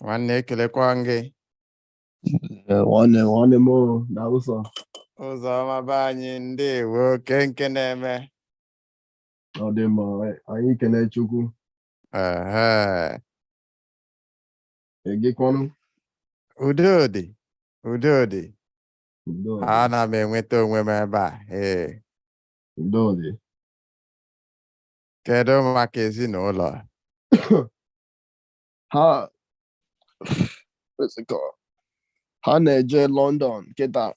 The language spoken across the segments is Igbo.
nwanne ekelekwa m gị nwanne nwanne m na ụzọ ụzọ ọma be anyị ndewo o kee nke na-eme ọ dị mma anyị kelee chukwu ehe gị kwanụ udo dị udo dị ana m enweta onwe m ebe a ee udo dị Kedu maka ezinụlọ? ha ha na-eje London kịtaa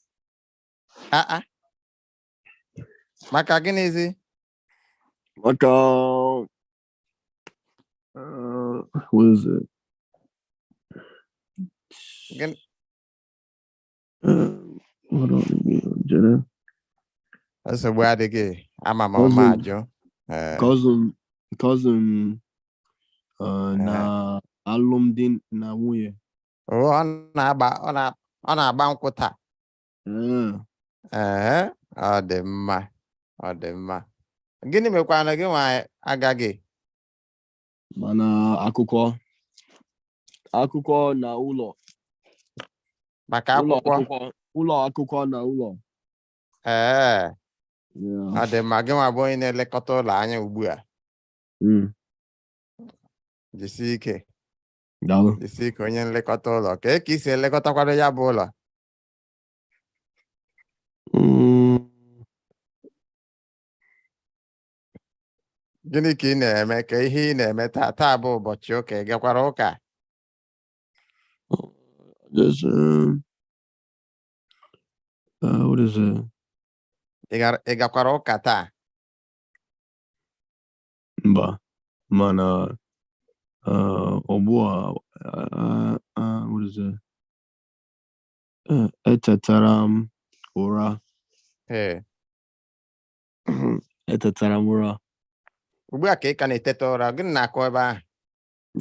ah, ah. maka gịnịzi maka uh, what is it? Um, hold on again, Jenna. nsogbu adịghị ama m ọma Cousin. ajụ Eh, Cousin, cousin, uh, na alụmdi na nwunye. o, ọ na-agba ọ na- ọ na-agba nkwụ taa Uh, Ee, ọ dị mma ọ dị mma gịnị mekwanụ gị nwa agaghị mana akụkọ akụkọ na ụlọ maka ụlọ akwụkwọ akụkọ ụlọ akụkọ na ụlọ ee Yeah. ọ dị mma gị nwa bụ onye na-elekọta ụlọ anya ugbu a Mm. jisie ike Daalụ. jisie ike onye nlekọta ụlọ kee ka i si elekọtakwado ya bụ ụlọ Mm. gịnị ka ị na-eme kee ihe ị na-eme taa taa bụ ụbọchị ụka ị gakwara ụka Just um, uh, what is it? Ị gara- ị gakwara ụka taa Mba, mana uh, ugbu a uh, uh, what is it? Uh, etetara m ụra ee etetara m ụra ugbu a ka ị ka na-eteta ụra gịnị na-akụ ebe ahụ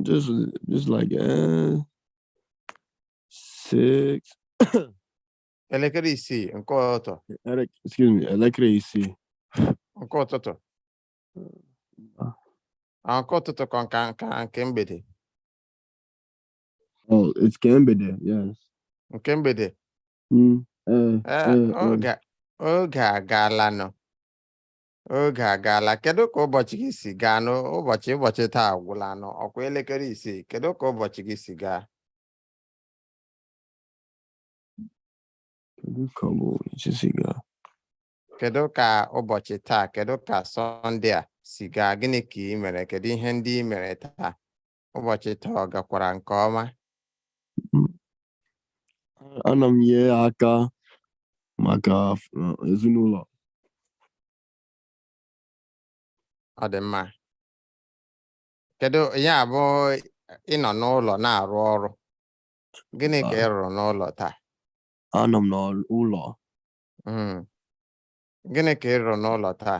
just just like uh, six elekere isii nke ụtụtụ ele- excuse me elekere isii nke ụtụtụ Ah, nke ụtụtụ ka nke nke nke mgbede oh it's nke mgbede yes nke mgbede Mm, eh, Eh, eh, eh. oge oge agaala nụ oge agaala kedu ka ụbọchị gị si gaa n'ụbọchị ụbọchị taa agwụla nụ ọ kwa elekere isii kedu ka ụbọchị gị si gaa kedu ka ụbọchị taa kedu ka sọnde a si gaa gịnị ka i mere kedu ihe ndị i mere taa ụbọchị taa ọ gakwara nke ọma ana m nye aka maka uh, ezinụlọ ọ dị mma kedu ya bụ ị nọ n'ụlọ na-arụ ọrụ gịnị ka ị rụrụ n'ụlọ taa anọ m n'ụlọ Mm. gịnị ka ị rụrụ n'ụlọ taa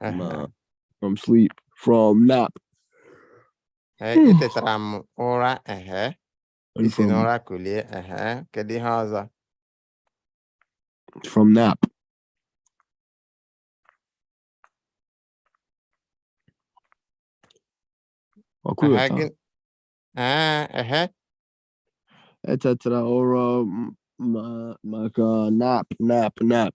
From, uh, from sleep, from nap. Eh, hmm. Etetara m ụra ehe. I si n'ụra kulie ehe. Kedu ihe ọzọ? From nap. Ọkụrụ taa. Ah, ehe. Etetara ụra maka nap, nap, nap.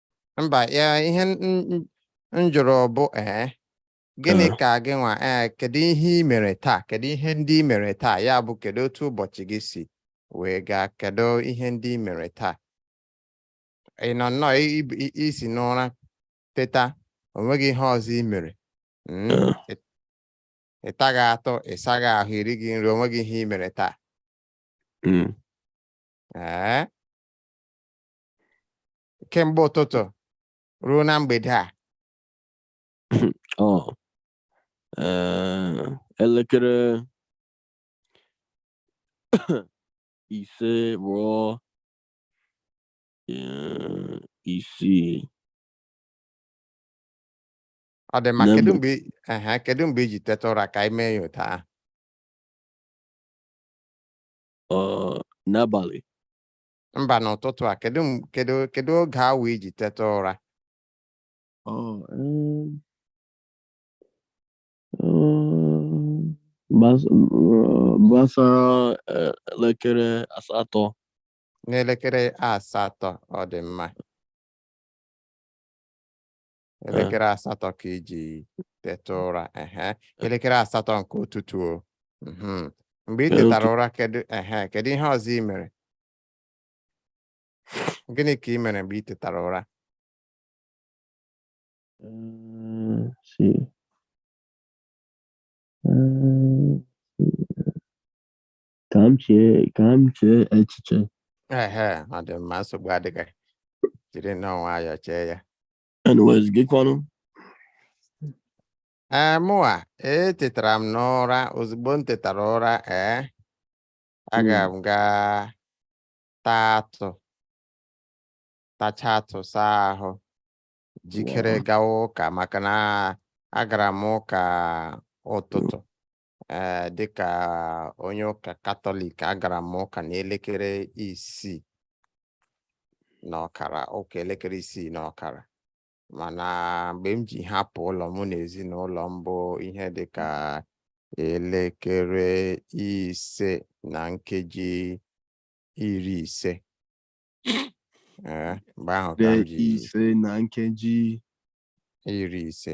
mba ihe m jụrụ bụ ee gịnị ka gị nwa ee kedu ihe i mere taa kedu ihe ndị i mere taa ya bụ kedu otu ụbọchị gị si wee gaa kedu ihe ndị i mere taa ị nọ nnọọ i si n'ụra teta o nweghị ihe ọzọ i mere hmm, ị taghị atụ ị saghị ahụ i righị nri o nweghị ihe i mere taa hmm. ee kemgbe ụtụtụ ruo na mgbede a ọ ee, elekere ise ruo ee, isii ọ dị mma Na kedu mgbe- mgbe i- ehe, kedu mgbe i ji teta ụra ka anyị mee ya otu ahụ ọ n'abalị mba n'ụtụtụ a kedu m- kedu kedu oge awa i ji teta ụra Ọ, em, em, gbas- eh, gbasara eh, elekere asatọ n'elekere asatọ ọ dị mma elekere asatọ ka i ji teta ụra ehe elekere asatọ nke ụtụtụ o mhm. mgbe ị tetara ụra kedu ehe kedu ihe ọzọ ị mere gịnị ka ị mere mgbe ị tetara ụra mm, mm, ka m chee ka m chee echiche ehe ọ dị mma nsogbu adịghị jiri nnọọ nwayọọ chee ya anyways gị kwanụ ee mụwa etetara m n'ụra ozugbo m tetara ụra ee aga m gaa taa atụ tacha atụ saa ahụ jikere gawa ụka maka na agara m ụka ụtụtụ ee eh, dịka onye ụka katọlik agara m ụka n'elekere isii na ọkara ụka elekere isii na ọkara mana mgbe m ji hapụ ụlọ mụ na ezinụlọ m bụ ihe dịka elekere ise na nkeji iri ise eh, mgbe ahụ ka m ji ise na nkeji iri ise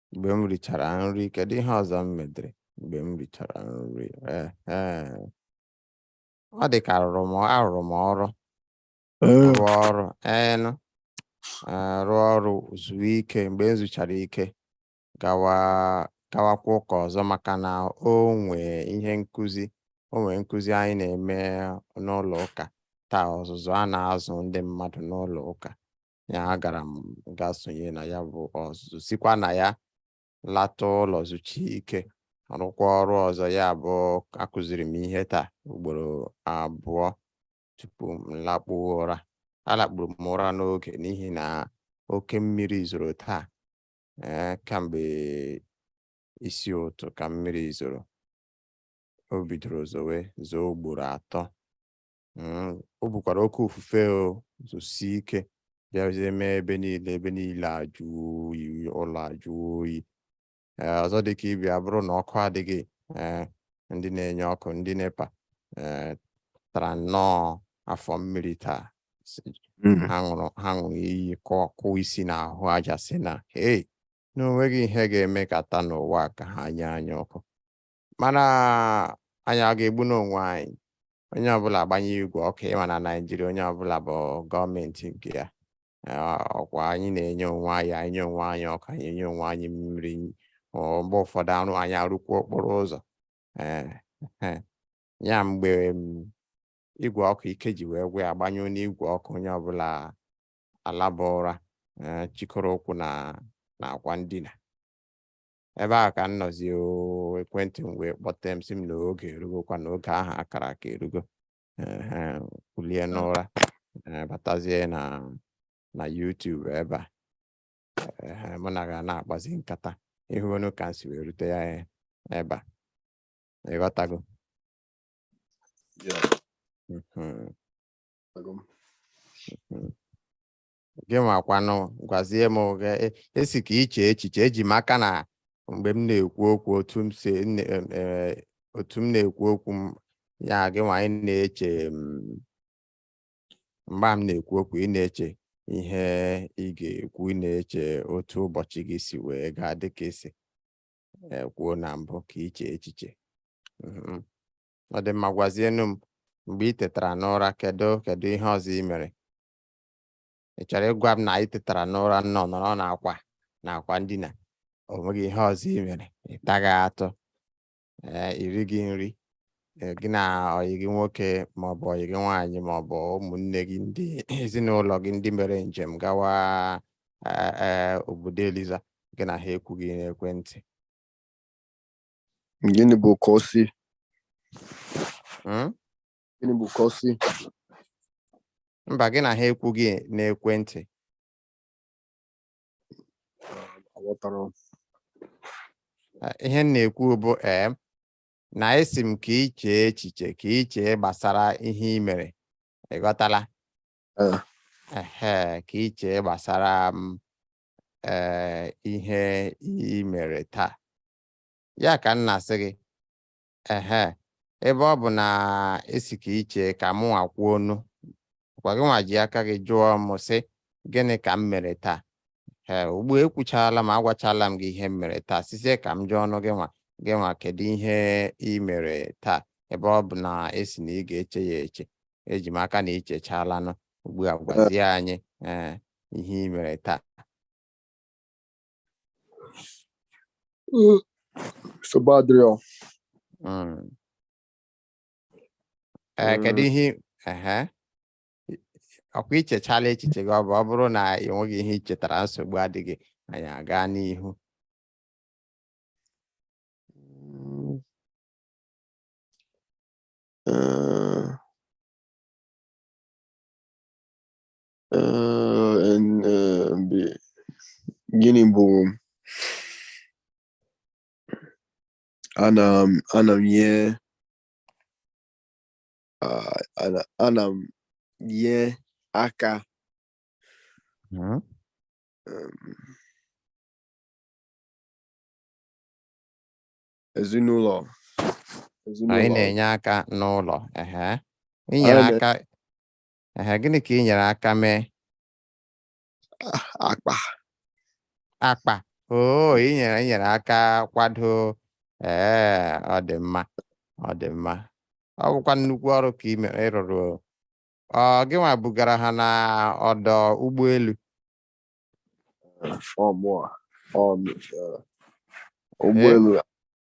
mgbe m richara nri kedu ihe ọzọ m medere mgbe m richara nri ọ dị ka arụrụ m arụrụ m ọrụ rụọ ọrụ ee rụọ ọrụ zuo ike mgbe m zuchara ike gawa gawakwa ụka ọzọ maka na o nwee ihe nkụzi o nwee nkụzi anyị na-eme n'ụlọ ụka taa ọzụzụ a na-azụ ndị mmadụ n'ụlọ ụka ya agara m ga sonye na ya bụ ọzụzụ sikwa na ya lata ụlọ zucha ike rụkwa ọrụ ọzọ ya bụ akụziri m ihe taa ugboro abụọ tupu m lakpuo ụra alakpuru m ụra n'oge n'ihi na oke mmiri zoro taa ee eh, kamgbe isi ụtụ ka mmiri zoro o bidoro zowe zoo ugboro atọ mm, o bukwara oke ufufe o zosie ike bịazie mee ebe niile ebe niile ajụ oyi ụlọ ajụ oyi ee ọzọ dị ka ibe ya bụrụ na ọkụ adịghị ee ndị na-enye ọkụ ndị nepa ee tara nnọọ afọ mmiri taa mm. ha ṅụrụ ha ṅụrụ iyi kụọ kụọ isi n'ahụ aja sị na hei na o nweghị ihe ga-emekata n'ụwa ka ha nye anyị ọkụ mana anyị aga-egbunụ onwe anyị onye ọbụla agbanye igwe ọkụ ị ma na naijiria onye ọbụla bụ gọọmenti nke ya ọkwa anyị na-enye onwe anyị anyị nye onwe anyị ọkụ anyị enye onwe anyị mmiri mgbe ụfọdụ arụ anyị arụkwa okporo ụzọ ya mgbe igwe ọkụ ike ji wee gwụ agbanyụọnụ igwe ọkụ onye ọbụla alaba ụra chịkọrọ ụkwụ na akwa ndina ebe ahụ ka m nọzi oo, ekwentị m wee kpọte m sị m na oge erugokwa na oge ahụ a kara aka erugo Ehe, kulie n'ụra eh, batazie na na YouTube ebe a Ehe, mụ na gị ana-akpazi nkata ị hụọnụ ka m si wee rute ya eh, ebe a ị ghọtago Yeah, Mhm, agụ m. mhm. gị nwakwanụ gwazie m ị sị ka i chee echiche eji m aka na mgbe m na-ekwu okwu otu m si e, otu m na-ekwu okwu m ya gị nwanụ na-eche mgbe m na-ekwu okwu ị na-eche ihe ị ga-ekwu ị na-eche otu ụbọchị gị si wee gaa dịka i si e, kwuo na mbụ ka i chee echiche mm-hmm. ọ dị mma gwazienu m mgbe ị tetara n'ụra kedu kedu ihe ọzọ ị mere ị chọrọ ịgwa m na ị tetara n'ụra nọ nọrọ n'akwa n'akwa ndina o nweghị ihe ọzọ ị mere ị taghị atụ ee i righị nri ee, gị na ọyị gị nwoke maọbụ ọyị gị nwaanyị maọbụ ụmụnne gị ndị ezinụlọ gị ndị mere njem gawa ee, ee, obodo eliza gị na ha ekwughị n'ekwentị Gịnị bụ ka o si? Mm? Gịnị bụ kọsi? Mba, gị na ha ekwughị n'ekwentị. Aghọtara m. Eh, Ihe m na-ekwu bụ ee na ị sị m ka i chee echiche ka i chee gbasara ihe i mere. Ị ghọtala? Eh. Ehe, ka i chee gbasara m ee ihe i mere taa. Ya ka m na-asị gị, Ehe, ebe ọ bụ na ị sị ka i chee ka mụnwa kwuonụ, ọkwa gị nwa ji aka gị jụọ m sị gịnị ka m mere taa? Ee, ugbu a ekwuchaala m agwachaala m gị ihe m mere taa, sizie ka m jụọnụ gị nwa kedu ihe ị mere taa ebe ọ bụ na ị sị na ị ga-eche ya eche eji m aka na i chechaalanụ ugbu a gwazie anyị ee ihe ị mere taa nsogbu adịrọ Mm. Eh, kedu Mm. ihe ehe ọ kwa i chechaala echiche gị ọ bụ ọ bụrụ na ị nweghị ihe i chetara nsogbu adịghị anyị aga n'ihu Mm. Eh, gịnị bụ ana m ana m ihe ana m enye aka hmm? ezinụlọ anyị na-enye aka n'ụlọ ehe i nyere aka Ehe, gịnị ka ị nyere aka mee akpa akpa oo ị nyere ị nyere aka kwado ee ọ dị mma ọ dị mma ọ bụkwa nnukwu ọrụ ka ị mere ị rụrụ o. ọ gị nwa bugara ha na ọdọ ụgbọelu ọ mụọ ọ m- eh, ụgbọelu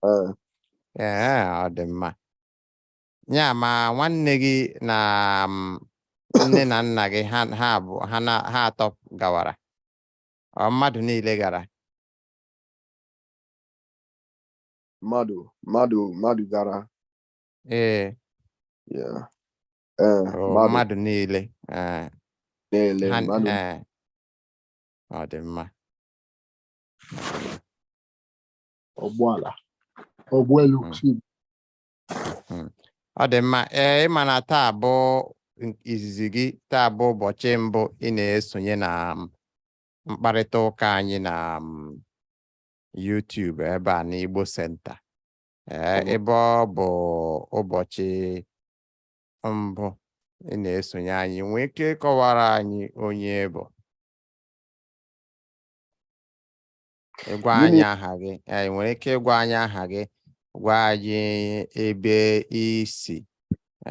eh, ee ọ dị mma ya ma nwanne gị na um, nne na nna gị ha ha bụ ha na ha atọ gawara ọ mmadụ niile gara mmadụ mmadụ mmadụ gara ee yeah. eh, o, mmadụ mmadụ niile ee na-ele ha mmadụ ee ọ dị mma ụgbọala ụgbọelu Mm. si Hmm. ọ dị mma ee ị ma na taa bụ n- izizi gị taa bụ ụbọchị mbụ ị na-esonye na m, mkparịta ụka anyị na m, YouTube ebe a n'Igbo Center ee Ọbụ- ebe ọ bụ ụbọchị mbụ ị na-esonye anyị ị nwee ike ịkọwara anyị onye ị bụ ịgwa anyị aha gị ị nwere ike ịgwa anyị aha gị gwa anyị ebe i si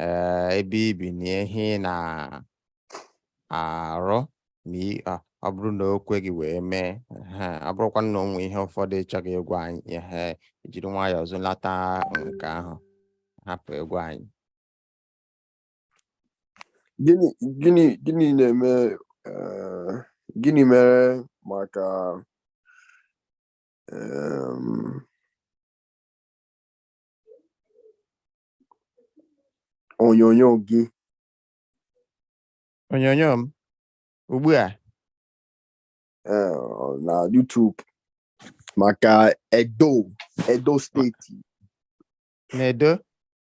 eh, ebe i bi na ihe ị na-arụ ma ọ bụrụ na o kwe gị wee mee ọ bụrụkwa na o nwee ihe ụfọdụ ị chọghị ịgwa anyị ehe jiri nwayọọ zụlata nke ahụ hapụ ịgwa anyị gịnị na-eme eh, gịnị mere maka onyonyo gị onyonyo m ugbu a eh, na YouTube maka Edo Edo steeti na Edo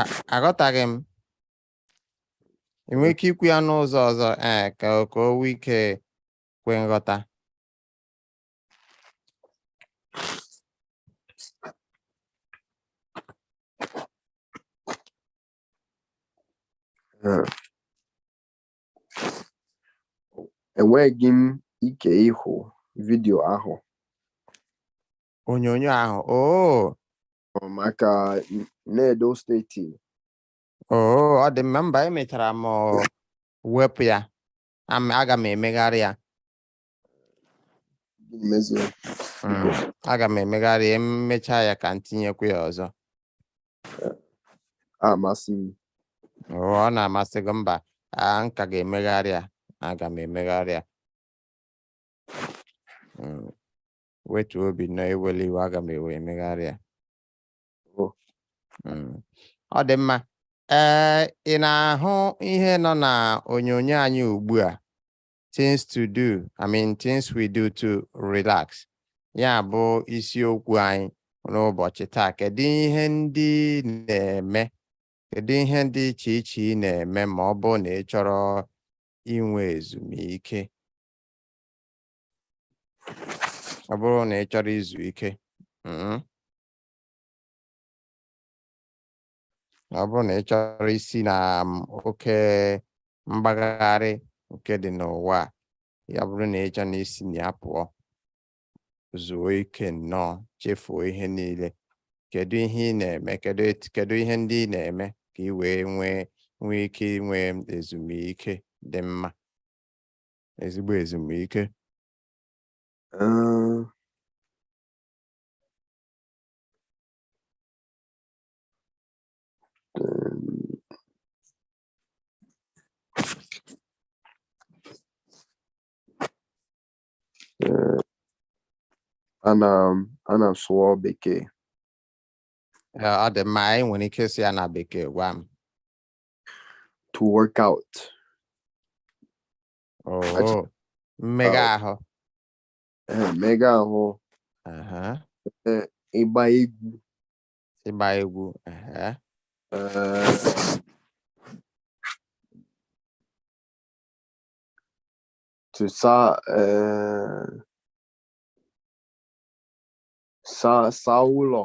A- aghọtaghị m ị nwere ike ikwu ya n'ụzọ ọzọ ee ka o- ka o nwee ike kwe nghọta Eh, enweghị m ike ịhụ vidio ahụ onyonyo ahụ oo ọ maka n'edo steeti oo ọ dị mma mba emechara m ọ, wepụ ya Am- aga m emegharị ya gịnị mezuru Mm, aga m emegharị ya emechaa ya ka m tinyekwu ya ọzọ amasị m Oo, ọ na-amasị gị mba m ka ga-emegharị ya aga m emegharị ya Mm, wetuo obi nọ ewela iwe aga m ewe emegharị ya oh. hmm. ọ dị mma ee eh, ị na-ahụ ihe nọ na onyonyo anyị ugbu a things to do i mean things we do to relax ya bụ isiokwu anyị n'ụbọchị taa kedu ihe ndị na-eme kedu ihe dị iche iche ị na-eme ma ọ bụrụ na ị chọrọ inwe ezumike ọ bụrụ na ị chọrọ izu ike mm, ọ bụrụ na ị chọrọ isi na um, oke mgbagharị nke dị n'ụwa a, ya bụrụ na ị chọrọ na isi na ya pụọ zuo ike nnọọ chefuo ihe niile kedu ihe ị na-eme kedu et- kedu ihe ndị ị na-eme ka ị wee nwee nwee ike inwe ezumike dị mma ezigbo ezumike ana m ana m sụọ bekee ọ dị mma ị nwere ike si ya na bekee gwa m to work out. Oh, Achị- mmega ahụ. Eh, Mmega ahụ Aha, ịgba egwu. Ịgba egwu. Aha. eh, To sa eh, sa sa ụlọ.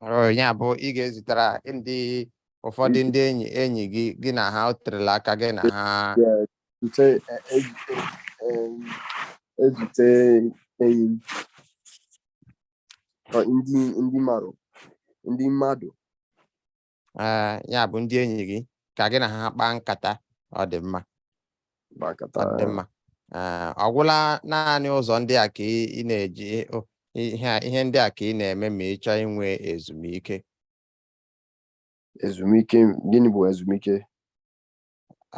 Oh, ya bụ ị ga-ezitara ndị ụfọdụ ndị enyi enyi gị gị na ha o terela aka gị na ha Yeah, zute e- e- e- em, ezute enyi m. Ọ, ndị ndị mmadụ ndị mmadụ ee ya bụ ndị enyi gị ka gị na ha kpaa nkata ọ dị mma gbakọta ọ dị mma ee ọ gwụla naanị ụzọ ndị a ka ị ị na-eji o, ihe a- ihe ndị a ka ị na-eme ma ị chọọ inwe ezumike ezumike gịnị bụ ezumike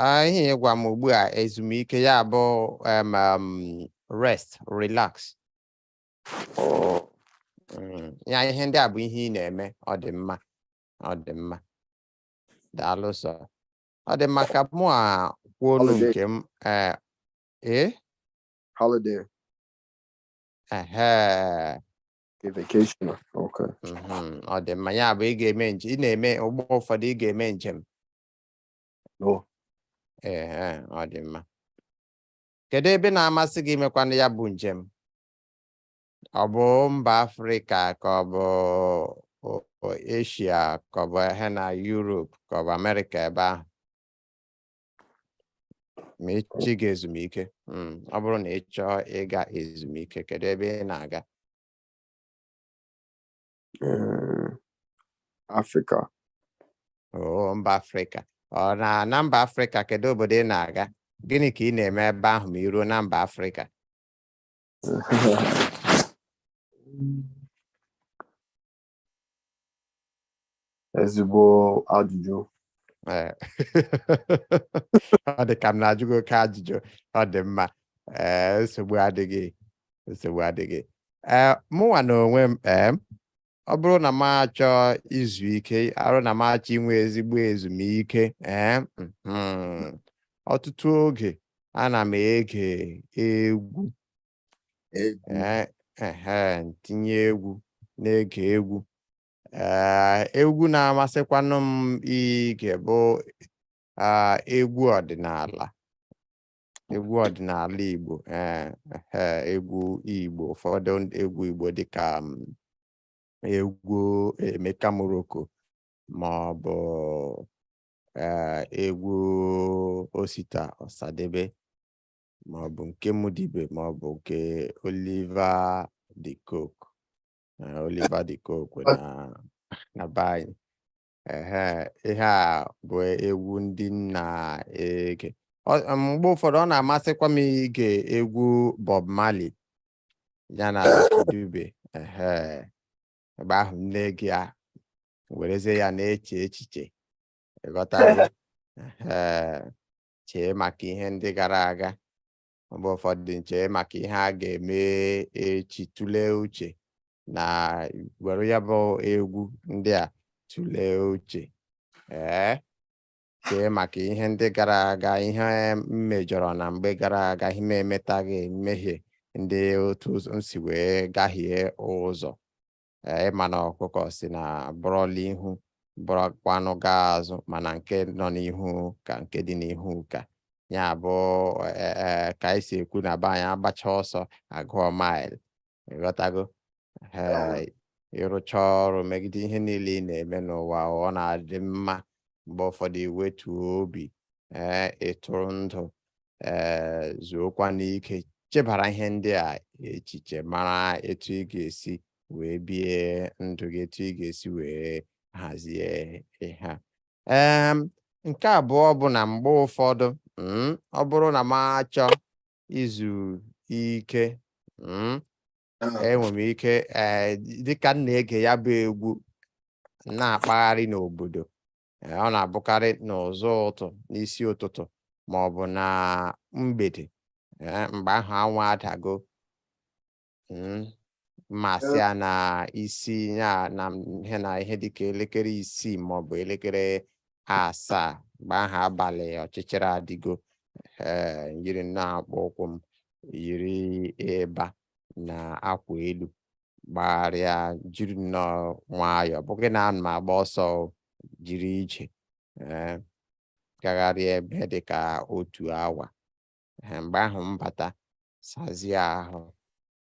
Ah, ihe ị gwa m ugbu a ezumike ya bụ em, em, rest relax mm, ya ihe ndị a bụ ihe ị na-eme ọ dị mma ọ dị mma daalụ sọ ọ dị mma ka mụ a kwuonụ nke m ee eh, eh? holiday ehe vacation okay mm-hmm, ọ dị mma ya bụ ị ga-eme njem ị na-eme mgbe ụfọdụ ị ga-eme njem ee eh, ọ dị mma kedu ebe na-amasị gị imekwanụ ya bụ njem ọ bụ mba afrịka ka ọ bụ eshia ka ọ bụ ihe na yurop ka ọ bụ amerịka ebe ahụ ma ị chọọ ịga ezumike hmm, ọ bụrụ na ị chọọ ịga ezumike kedu ebe ị na-aga eh, Afrịka oo mba afrịka ọ na na mba afrịka kedu obodo ị na-aga gịnị ka ị na-eme ebe ahụ ma i ruo na mba afrịka ezigbo ajụjụ eh. ọ dị ka m na-ajụ gị oke ajụjụ ọ dị mma eh, nsogbu adịghị nsogbu adịghị eh, mụnwa na onwe m ọ bụrụ na m achọ izu ike arụ na m achọ inwe ezigbo ezumike ee hmm, ọtụtụ oge ana m ege egwu tinye egwu na-ege egwu egwu na-amasịkwanụ m ige bụ egwu ọdịnala egwu ọdịnala Igbo eh, eh, egwu Igbo ụfọdụ egwu Igbo dịka mm, egwu Emeka Morocco ma ọ bụ eh, egwu Osita Ọsadebe ma ọ bụ nke Muddy Ibe ma ọ bụ nke Oliver de Coque eh, Oliver de Coque na na be anyị ehe ihe a bụ egwu ndị m na-ege Ọ- em, mgbe ụfọdụ ọ na-amasịkwa m ige egwu Bob Marley ya na Dube ehe mgbe ahụ m na-ege ya werezie ya na-eche echiche ịghọtago ehe chee maka ihe ndị gara aga mgbe ụfọdụ m chee maka ihe a ga-eme echi tụlee uche na were ya bụ egwu ndị a tụlee uche ee chee maka ihe ndị gara aga ihe m mejọrọ na mgbe gara aga ihe m emetaghị mmehie ndị otu m si wee gahie ụzọ eh, ịma na ọkụkọ sị na bọrọla ihu bọrọkwanụ gaa azụ mana nke nọ n'ihu ka nke dị n'ihu ka ya bụ eh, eh, ka anyị si ekwu na be anyị agbacha ọsọ agụọ mile ịghọtago ịrụcha ọrụ megide ihe niile ị na-eme n'ụwa ọ na-adị mma mgbe ụfọdụ iwetuo obi ee eh, ịtụrụ ndụ ee eh, zuokwanụ ike chebara ihe ndị a echiche mara etu ị ga-esi wee bie ndụ gị etu ị ga-esi wee hazie ihe a nke abụọ bụ na mgbe ụfọdụ mm, ọ bụrụ na m achọ izu ike mm, enwe m ike eh, dịka m na-ege ya bụ egwu na-akpagharị n'obodo eh, ọ na-abụkarị n'ụzọ ụtụ n'isi ụtụtụ ma ọ bụ na mgbede eh, mgbe ahụ anwụ adago mm, ma asị ya na isi ya na ihe na ihe dịka elekere isii ma ọ bụ elekere asaa mgbe ahụ abalị ọchịchịrị adịgo ee m yiri nnọọ akpụkpọ ụkwụ m yiri ịba na akwa elu gbagharịa jiri nnọọ nwayọọ bụghị na ana m agba ọsọ jiri ije eh, gagharịa ebe dị ka otu awa eh, mgbe ahụ m bata sazie ahụ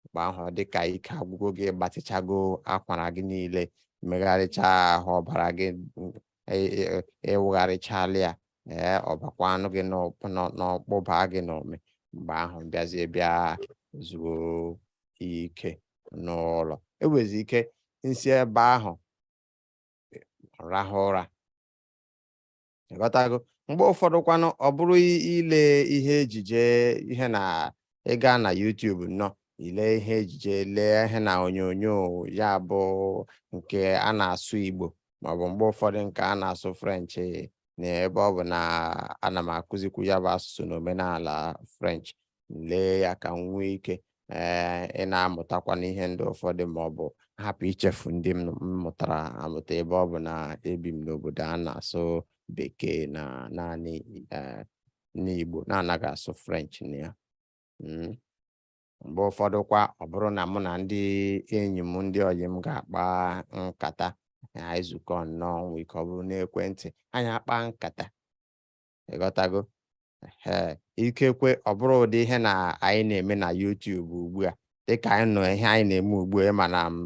mgbe ahụ ọ dị ka ike agwụgo gị ị gbatịchago akwara gị niile megharịcha ahụ ọbara gị ị wụgharịchala ya ee ọ bakwanụ gị n'ọkpụ baa gị n'ụmị mgbe ahụ bịazie bịa zuo ike n'ụlọ enwezi ike m si ebe ahụ rahụ ụra ị ghọtago mgbe ụfọdụ kwanụ ọ bụrụ ile ihe ejije ihe na ịga na YouTube nọọ ile ihe ejije lee ihe na onyonyo ya bụ nke a na-asụ Igbo maọbụ mgbe ụfọdụ nke a na-asụ French na ebe ọ bụ na ana m akụzikwu ya bụ asụsụ na omenala French m lee ya ka m nwee ike ee eh, ịna-amụtakwanụ ihe ndị ụfọdụ ma ọ bụ hapụ ichefu ndị m mụtara amụta ebe ọ bụ na ebi m n'obodo a na-asụ bekee na naanị eh, n'Igbo na-anaghị asụ French na ya hmm. mgbe ụfọdụ kwa ọ bụrụ na mụ na ndị enyi m ndị ọyị m ga-akpa nkata anyị zukọọ nọọ nwee ike ọ bụrụ n'ekwentị anyị akpa nkata ị ghọtago ee ikekwe ọ bụrụ ụdị ihe na anyị na-eme na YouTube ugbu a dịka anyị nọ ihe anyị na-eme ugbu a ị ma na m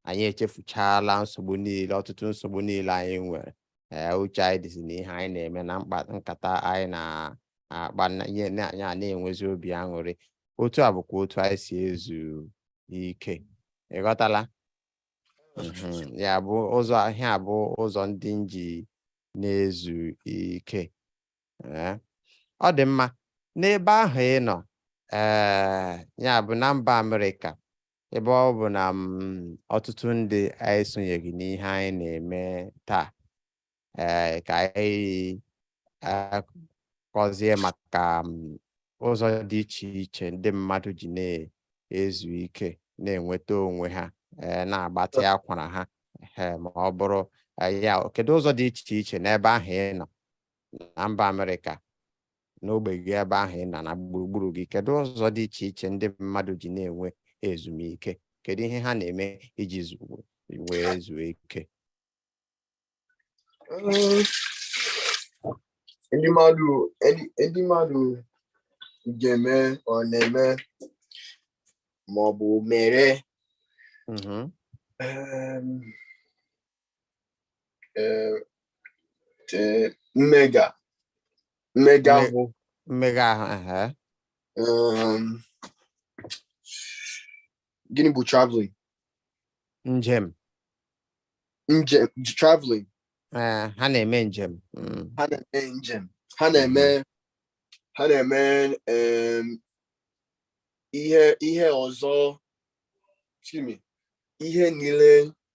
anyị echefuchala nsogbu niile ọtụtụ nsogbu niile anyị nwere ee uche anyị dịzi na ihe anyị na-eme na mkpa nkata anyị na-akpa ihe anyị ana-enwezi obi aṅụrị otu a bụkwa otu anyị si ezu ike ị ghọtala mhm. ya bụ ụzọ ihe a bụ ụzọ ndị m ji na-ezu ike ọ dị mma n'ebe ahụ ị nọ ee ya bụ na mba Amerịka ebe ọ bụ na m ọtụtụ ndị anyị esonyeghị n'ihe anyị na-eme taa ee ka anyị eh, kọzie maka m, ụzọ dị iche iche ndị mmadụ ji na-ezu ike na-enweta onwe ha eh, na-agbatị akwara ha eh, ma ọ bụrụ eh, ya kedu ụzọ dị iche iche n'ebe ahụ ị nọ na mba Amerịka n'ogbe gị ebe ahụ ị nọ na gburugburu gị kedu ụzọ dị iche iche ndị mmadụ ji na-enwe ezumike kedu ihe ha na-eme iji wee zuo ike um, ndị mmadụ ndị mmadụ ga-eme ọ na-eme ma ọ bụ mere mm-hmm. um, eh, eh, mmega mmega Mme- ahụ mmega ahụ ehe. um, gịnị bụ traveling njem njem traveling eh, ha na-eme njem Mm, ha na-eme njem ha na-eme ha na-eme em, ihe ihe ọzọ excuse me ihe niile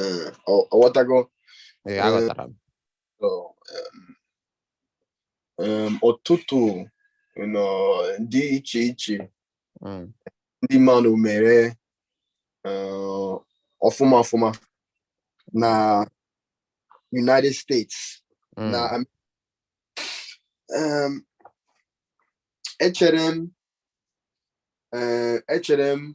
Eh, ọ- ọ ghọtago Ee, Eh, aghọtara m. So, um, um, ọtụtụ you know, dị iche iche Mm, ndị mmadụ mere uh, ọfụma ọfụma na United States mm, na Am- um, echere m eh, echere m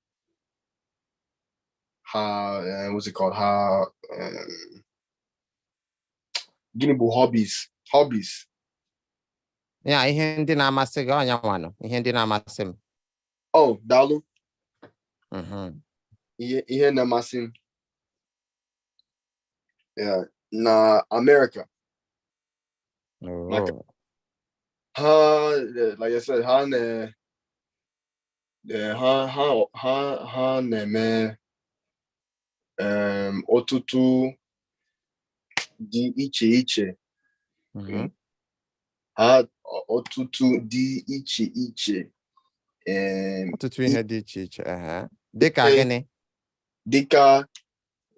ha uh, what's it called ha um, gịnị bụ hobbies hobbies ya ihe ndị na-amasị gị ọ nya nwanụ ihe ndị na-amasị m oh daalụ mm-hmm. ihe ihe na-amasị m na America oh. ha like I said ha na Ee, ha ha ha ha na-eme em, ọtụtụ dị iche iche Mhm. ha ọ- ọtụtụ dị iche iche em, ọtụtụ ihe dị iche iche aha dịka Ee. gịnị dịka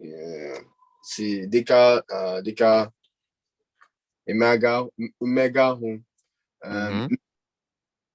eh, si dịka ah, dịka mmega mmega ahụ em, Mhm.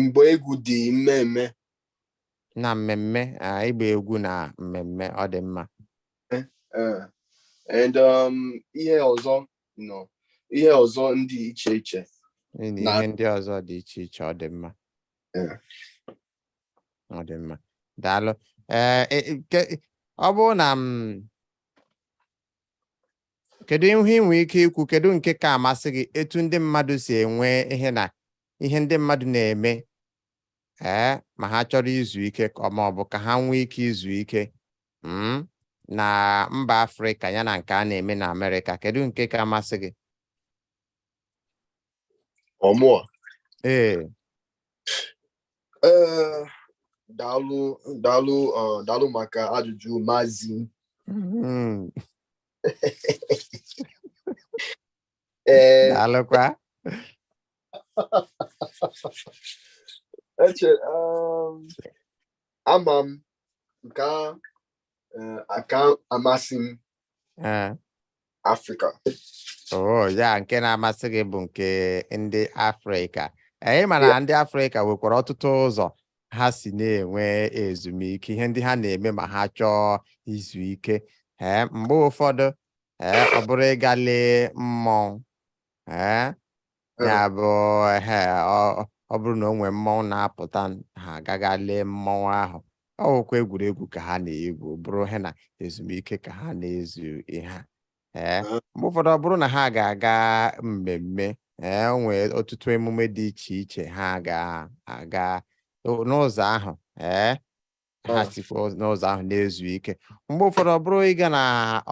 mgbe egwu dị mmemme na mmemme ịgba egwu na mmemme ọ dị mma eh, eh. and um, ihe ọzọ na ihe ọzọ ndị iche iche na ihe ndị ọzọ dị iche iche ọ dị mma eh. ọ dị mma daalụ ọ bụrụ na m mm, kedu ihe i nwere ike ikwu kedu nke ka amasị gị etu ndị mmadụ si enwe ihe na ihe ndị mmadụ na-eme ee ma ha chọrọ izu ike ma ọ bụ ka ha nwee ike izu ike hmm, na mba afrịka ya na nke a na-eme na amerịka kedu nke ka amasị gị ọ mụa ee ee daalụ daalụ uh, daalụ maka ajụjụ mazi mm. ee daalụkwa eche um, ama m nke a eh, aka amasị m Eh. Afrịka oh ya nke na-amasị gị bụ nke ndị Afrịka anyị eh, mana ndị Afrịka nwekwara ọtụtụ ụzọ ha si na-enwe ezumike ihe ndị ha na-eme ma ha chọọ izu ike ee eh, mgbe ụfọdụ ee ọ bụrụ ịga lee mmọnwụ ee ya eh. bụ ehe ọ bụrụ na o nwee mmọnwụ na-apụta ha aga ga lee mmọnwụ ahụ ọ bụkwa egwuregwu ka ha na-egwu bụrụ ha na ezumike ka ha na-ezu ihe ha ee eh. eh. mgbe ụfọdụ ọ bụrụ na ha ga-aga mmemme ee o nwee ọtụtụ emume dị iche iche ha ga-aga n'ụzọ ahụ ee ha Ah. sikwa ụz- n'ụzọ ahụ na-ezu ike mgbe ụfọdụ ọ bụrụ ịga na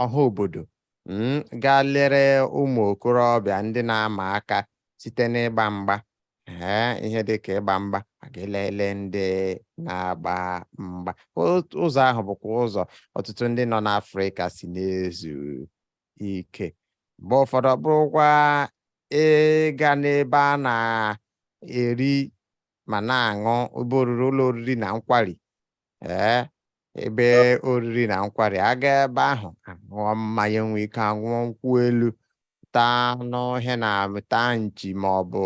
ọha obodo mm, gaa lere ụmụ okorobịa ndị na-ama aka site n'ịgba mgba ee ihe dị ka ịgba mgba a ga-elele ndị na-agba mgba Otu- ụzọ ahụ bụkwa ụzọ ọtụtụ ndị nọ n'afrịka si na-ezu ike mgbe ụfọdụ ọ bụrụkwa ịga n'ebe a na-eri ma na-aṅụ ebe oriri ụlọ oriri na nkwari ee ebe oriri na nkwari aga ebe ahụ aṅụọ mmanya nwee ike aṅụọ nkwụ elu taa anụ ihe na taa nchi ma ọ bụ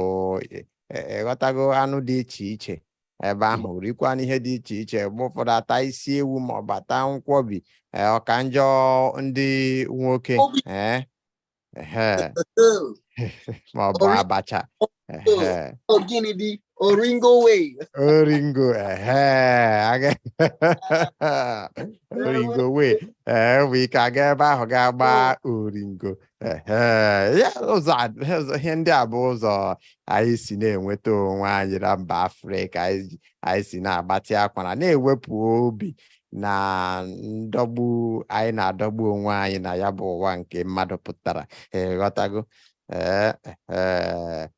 e- e- ị ghọtago anụ dị iche iche ebe ahụ rikwanụ ihe dị iche iche mgbe ụfọdụ ata isi ewu ma ọ bụ ata nkwọbi ee, ọ ka njọ ndị nwoke Obi- ee ma ọ bụ abacha gịnị dị oringo way oringo oringo way ee nwee ike aga ebe ahụ ga gba oringo ụzọ ihe ndị a bụ ụzọ anyị si na-enweta onwe anyị na mba afrịka anyị si na-agbatị akwara na-ewepụ obi na ndọgbu anyị na-adọgbu onwe anyị na ya bụ ụwa nke mmadụ pụtara ị ghọtago ee ee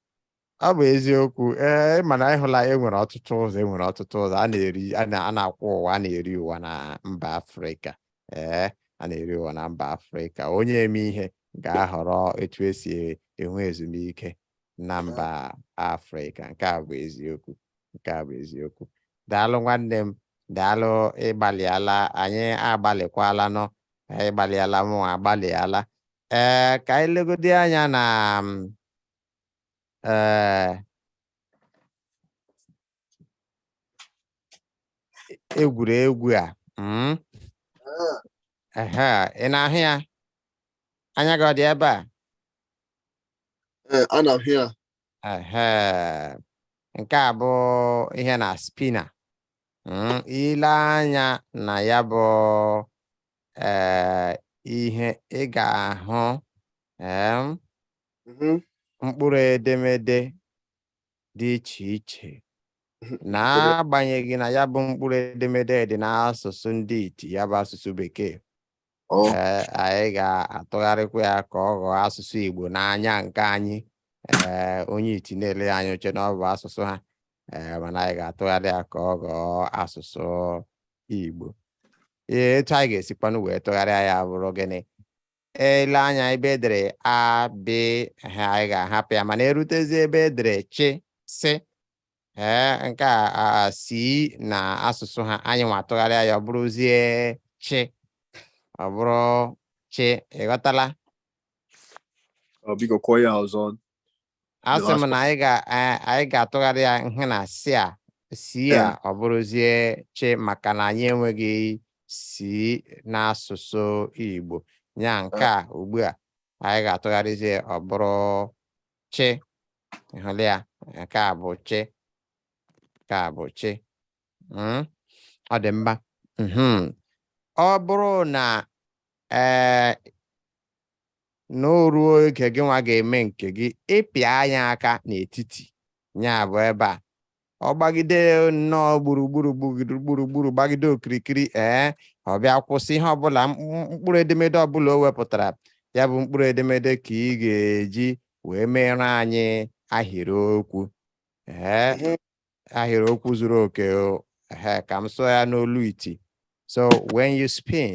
ọ bụ eziokwu ee mana ị hụla e nwere ọtụtụ ụzọ e nwere ọtụtụ ụzọ a na-eri a na- a na-akwụ ụwa a na-eri ụwa na mba afrịka ee a na-eri ụwa na mba afrịka onye eme ihe ga-ahọrọ etu e si e- enwe ezumike na mba afrịka nke a bụ eziokwu nke a bụ eziokwu daalụ nwanne m daalụ ị gbalịala anyị agbalịkwala nọ ị gbalịala mụ agbalịala ee ka anyị legodi anya na m, ee egwuregwu a mm, ehe, ị na-ahụ ya anya gị ọ dị ebe a Ee, ana m hụ ya. nke a bụ ihe na spinner hmm, i lee anya na ya bụ eh, ihe ị ga-ahụ mm-hmm. mkpụrụ edemede dị iche iche mm-hmm. n'agbanyeghị na ya bụ mkpụrụ edemede dị n'asụsụ ndị iti ya bụ asụsụ bekee Oh. ee anyị ga-atụgharịkwa ya ka ọ ghọọ asụsụ Igbo n'anya nke anyị ee onye iti na-ele anya o chee na ọ bụ asụsụ ha ee mana anyị ga-atụgharị ya ka ọ ghọọ asụsụ Igbo ee etu anyị ga-esikwanụ wee tụgharịa ya bụrụ gịnị ele anya ebe edere a b eh anyị ga-ahapụ ya mana erutezie ebe edere chị sị ee nke a a- a si na asụsụ ha anyị nwa atụgharịa ya ọ bụrụzie chị ọ bụrụ chị ịghọtala Ọ biko kwuo ya ọzọ. asị last m one. na anyị ga a- anyị ga-atụgharị ya ihe na si a si a Yeah. ọ bụrụzie chị maka na anyị enweghị si n'asụsụ Igbo ya nke a ugbu a anyị ga-atụgharịzie ọ bụrụ chị ịhụla ya nke a bụ chị nke a bụ chị mhm. ọ dị mma ọ bụrụ na ee na o ruo oge gị nwa ga-eme nke gị ịpịanye aka n'etiti ya bụ ebe a ọ gbagide nnọọ gburugburu gburugburu gbagide okirikiri ee ọ bịa kwụsị ihe ọbụla mkpụrụ edemede ọbụla o wepụtara ya bụ mkpụrụ edemede ka ị ga-eji wee meere anyị ahịrịokwu ee mhm. ahịrịokwu zuru oke ee ka m sụọ ya n'olu iti so when you spin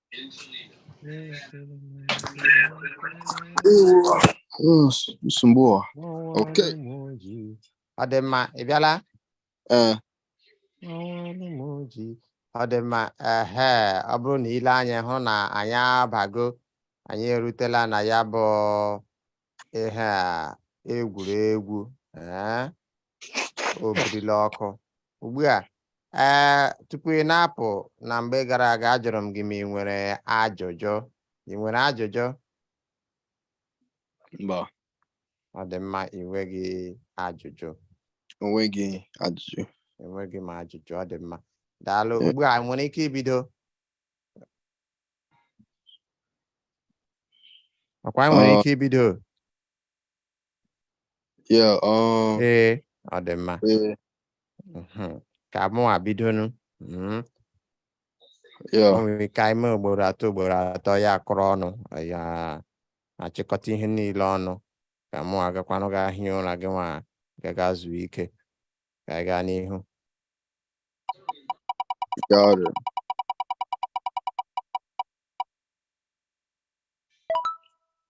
nsogbu a ok ọ dị mma ị bịala ee ọ dị mma ehe ọ bụrụ na ile anya hụ na anyị abago anyị erutela na ya bụ ihe a egwuregwu ee obirila ọkụ ugbu a ee tupu ị na-apụ na mgbe gara aga ajụrụ m gị ma ị nwere ajụjụ ị nwere ajụjụ mba ọ dị mma ị nweghị ajụjụ onweghị ajụjụ enweghị m ajụjụ ọ dị mma daalụ Eh. ugbu a nwere ike ibido ọkwa anyị nwere ike ibido ee ọ dị mma mhm. ka mụnwa bidonụ mhm. nwere ike ime ugboro atọ ugboro atọ ya akụrụ ọnụ ya achịkọta ihe niile ọnụ ka mụnwa gakwanụ ga hie ụra gị nwa gaa ga zuo ike ka anyị gaa n'ihu Got it.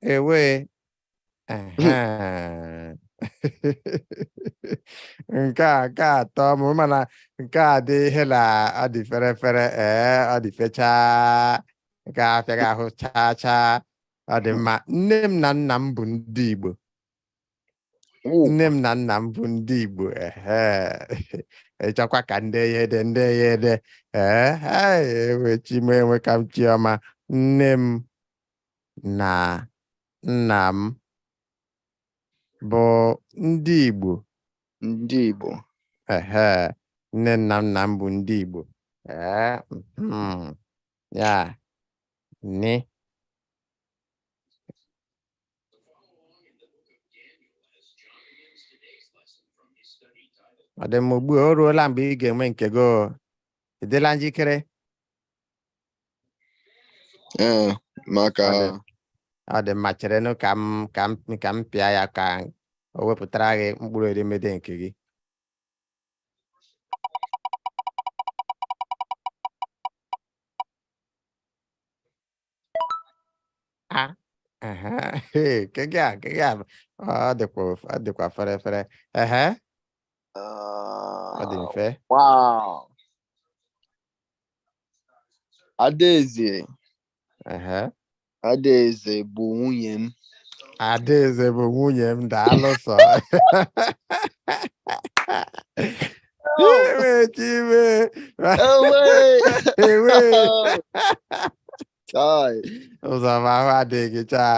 Ewe. Aha. nke a nke a atọọ m mana nke a dị ihe na ọ dị fere fere ee ọ dị fechaa nke a afịaghị ahụ chaa chaa ọ dị mma nne m na nna m bụ ndị Igbo nne m na nna m bụ ndị Igbo ị chọkwa ka m dee ya ede m dee ya ede ewe chi m enweka m chi ọma nne m na nna m bụ ndị Igbo ndị Igbo ehe nne m na nna m bụ ndị Igbo ee hmm, ya ni ọ dị mma ugbu a o ruola mgbe ị ga-enwe nke gị o. ị dịla njikere Ee, maka Ọ dị. ọ dị mma cherenụ ka m ka m ka m pịa ya ka o wepụtara gị mkpụrụ edemede nke gị a ehe ee, nke gị a nke gị a bụ- ọ dịkwa of- ọ dịkwa fere fere ehe ọ dị mfe Wow. Adaeze, ehe Adaeze bụ nwunye m. Adaeze bụ nwunye m daalụ sọ Ewe ụzọma ahụ adịghị chaa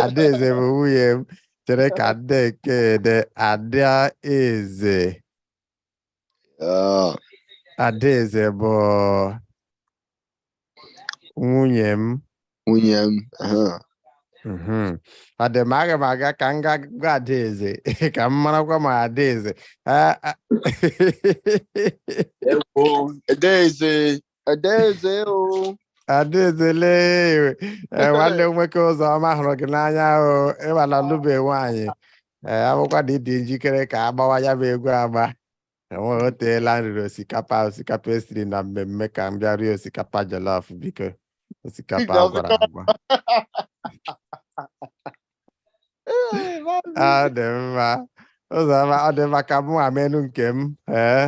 adaeze bụ nwunye m chere ka m dee nke a ede adaeze adaeze bụ nwunye m nwunye m aha. Mhm. ọ dị mma aga m aga ka m gaa gwa adaeze ka m marakwa ma adaeze Ah, ah. Ewo, Adaeze Adaeze o adaeze lee Eh, nwanne m nwoke ụzọma hụrụ gị n'anya o ịmana lụbe nwaanyị ee a bụkwa na ị dị njikere ka a gbawa ya bụ egwu agba enweghị o teela m riri osikapa osikapa e siri na mmemme ka m bịa rie osikapa jollof biko osikapa Biko, a gwara agwa Ee, maazị. ọ dị mma ụzọma ọ dị mma ka mụwa meenụ nke m ee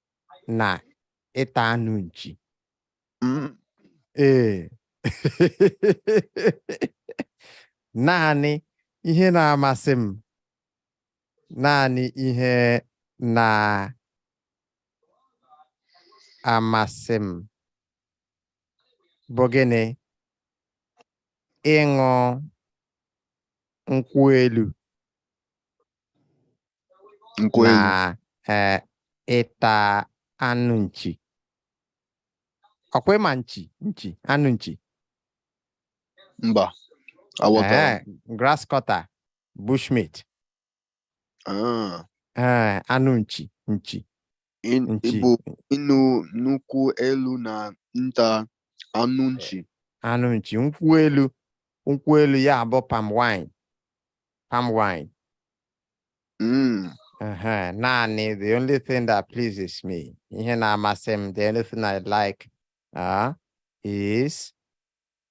na ịta anụ nchi mm. ee naanị ihe na-amasị m naanị ihe na-amasị m bụ gịnị ịṅụ nkwụ elu Nkwụ elu. na eh, ịta anụ nchi ọkwa ịma nchi nchi anụ nchi Mba. Aghọtara. Eh, grass cutter bushmeat Ah, Eh, anụ nchi nchi In- Nchi. Igbo ịṅụ nkwụ elu na ịta anụ nchi. anụ nchi nkwụ elu nkwụ elu ya bụ palm wine palm wine Mm. Ehe, naanị the only thing that pleases me ihe na-amasị m the only thing I like uh, is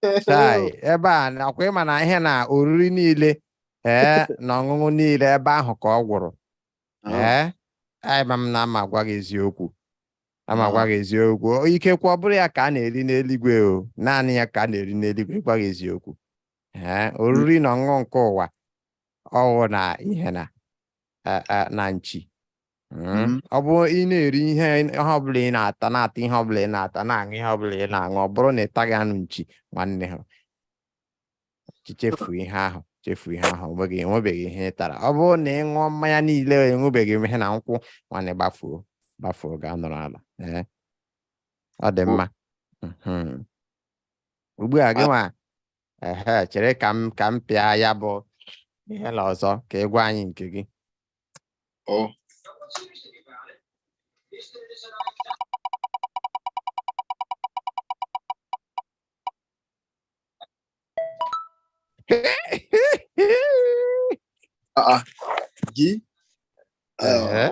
chai ebe a ọkwa ịma na ihe na oriri niile ee na ọṅụṅụ niile ebe ahụ ka ọ gwụrụ ee ama m na ama agwa gị eziokwu ama agwa gị eziokwu ikekwe ọ bụrụ ya ka a na-eri n'eluigwe o naanị ya ka a na-eri n'eluigwe gwa gị eziokwu ee oriri na ọṅụṅụ nke ụwa ọwụ na ihe na na nchi Mm. ọ bụrụ ị na-eri ihe ihe ọbụla ị na-ata na-ata ihe ọbụla ị na-ata na-aṅụ ihe ọbụla ị na-aṅụ ọ bụrụ na ị taghị anụ nchi nwanne ha chi chefuo ihe ahụ chefuo ihe ahụ onweghị enwebeghị ihe ị tara ọ bụrụ na ị ṅụọ mmanya niile ị ṅụbeghị ihe na nkwụ nwanne gbafuo gbafuo gaa nọrọ ala ee ọ dị mma Mhm. ugbu a gị nwa ehe chere ka m ka m pịa ya bụ ihe na ọzọ ka ị gwa anyị nke gị Oh. Aa, Gị. Ee,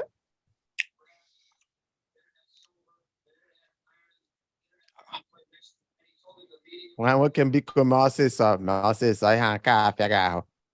nwa nwoke m biko mee ọsịsọ mee ọsịsọ ihe a nke a apịaghị ahụ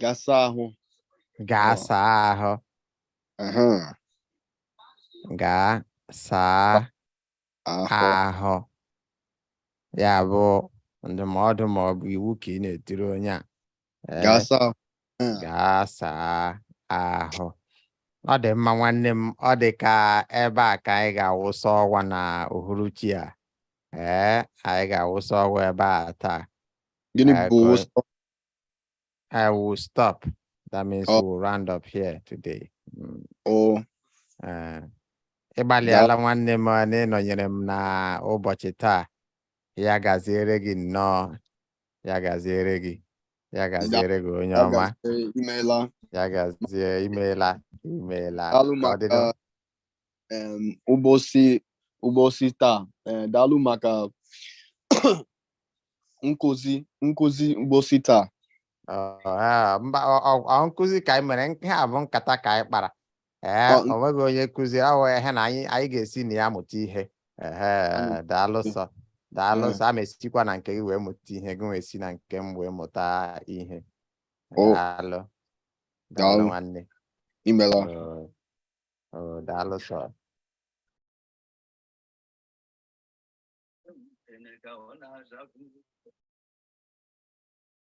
gaa saa ahụ gaa Ọ. saa ahụ Aha, gaa saa ahụ ahụ ya bụ ndụmọdụ ma ọ bụ iwu ka ị na-etiri onye a Ee, Gaa saa ahụ. Ee, gaa saa ahụ ọ dị mma nwanne m ọ dị ka ebe a ka anyị ga-awụsa ọwa na uhuruchi a ee anyị ga-awụsa ọwa ebe a taa Gịnị Ee, bụ ka- wụsa? I will stop that means Oh. we'll round up here today Mm, Oh, ee. ị gbalịala nwanne m na ịnọnyere m na ụbọchị taa ya gaziere gị nnọọ ya gaziere gị ya gaziere gị onye ọma imeela ya gazie imeela imeela ụbọchị ụbọchị taa eh, daalụ maka nkụzi nkụzi ụbọchị taa nkụzi ka anyị mere nke a bụ nkata ka anyị kpara ee Ọ- o nweghị onye nkụzi ọ wụ ihe na anyị anyị ga-esi na ya mụta ihe ehe Anyị- daalụ sọ daalụ Ee. sọ a ma esikwa na nke gị wee mụta ihe gị wee si na nke m wee mụta ihe O. daalụ daalụ Daalụ. nwanne imeela Oo. Oo, daalụ sọ